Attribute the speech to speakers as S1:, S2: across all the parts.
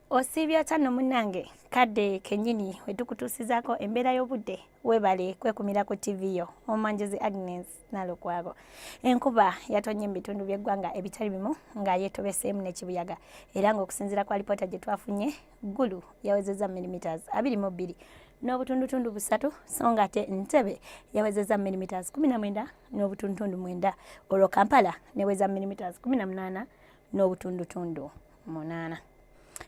S1: osiibye atya no munnange kadde kenyini wetukutuusizaako embeera y'obudde webale kwekumira ku ttivi yo omanjezi agnes nalukwago enkuba yatonye mu bitundu by'eggwanga ebitali bimu nga yetobeseemu n'ekibuyaga era ng'okusinziira kwa lipoota gye twafunye ggulu yawezezza millimeters abiri mu bbiri n'obutundutundu busatu so nga ate ntebe yawezezza millimeters kumi na mwenda n'obutundutundu mwenda olwo kampala neweza millimeters kumi na munaana n'obutundutundu munaana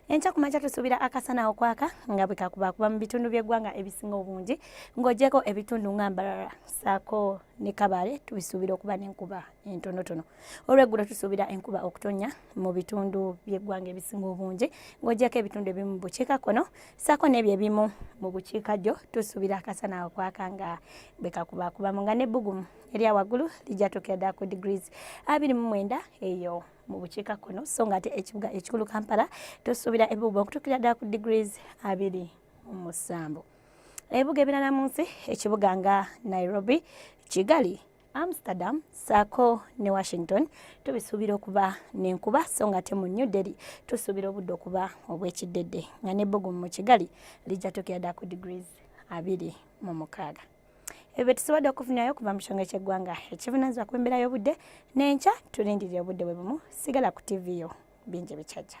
S1: enkya ku makya tusuubira akasana okwaka nga bwe kakubakuba mu bitundu by'eggwanga ebisinga obungi ng'ogyeko ebitundu nga mbarara saako ne kabale tubisuubira okuba n'enkuba entonotono olweggulo tusuubira enkuba okutonya mu bitundu by'eggwanga ebisinga obungi ng'ogyeko ebitundu ebimu mu bukiika kkono saako n'ebyo ebimu mu bukiika ddyo tusuubira akasana okwaka nga bwe kakubakubamu nga n'ebbugumu erya waggulu lijja tukeda ku degrees abiri mu mwenda eyo mu bukiika kkono so nga ate ekibuga ekikulu kampala tusuubira ebibuga okutuukira ddala ku degrees abiri mu musanvu ebibuga ebirala mu nsi ekibuga nga nairobi kigali amsterdam saako ne washington tubisuubira okuba nenkuba so nga ate mu new delhi tusuubira obudde okuba obwekiddedde nga nebbugumu mu kigali lijja tukira ddala ku degrees abiri mu mukaaga ebyo tusobodde okufunirayo okuva mu kitongole ky'eggwanga ekivunanyizibwa ku mbeera y'obudde n'enkya tulindirira obudde bwe bumu sigala ku ttivi yo bingi bikyajja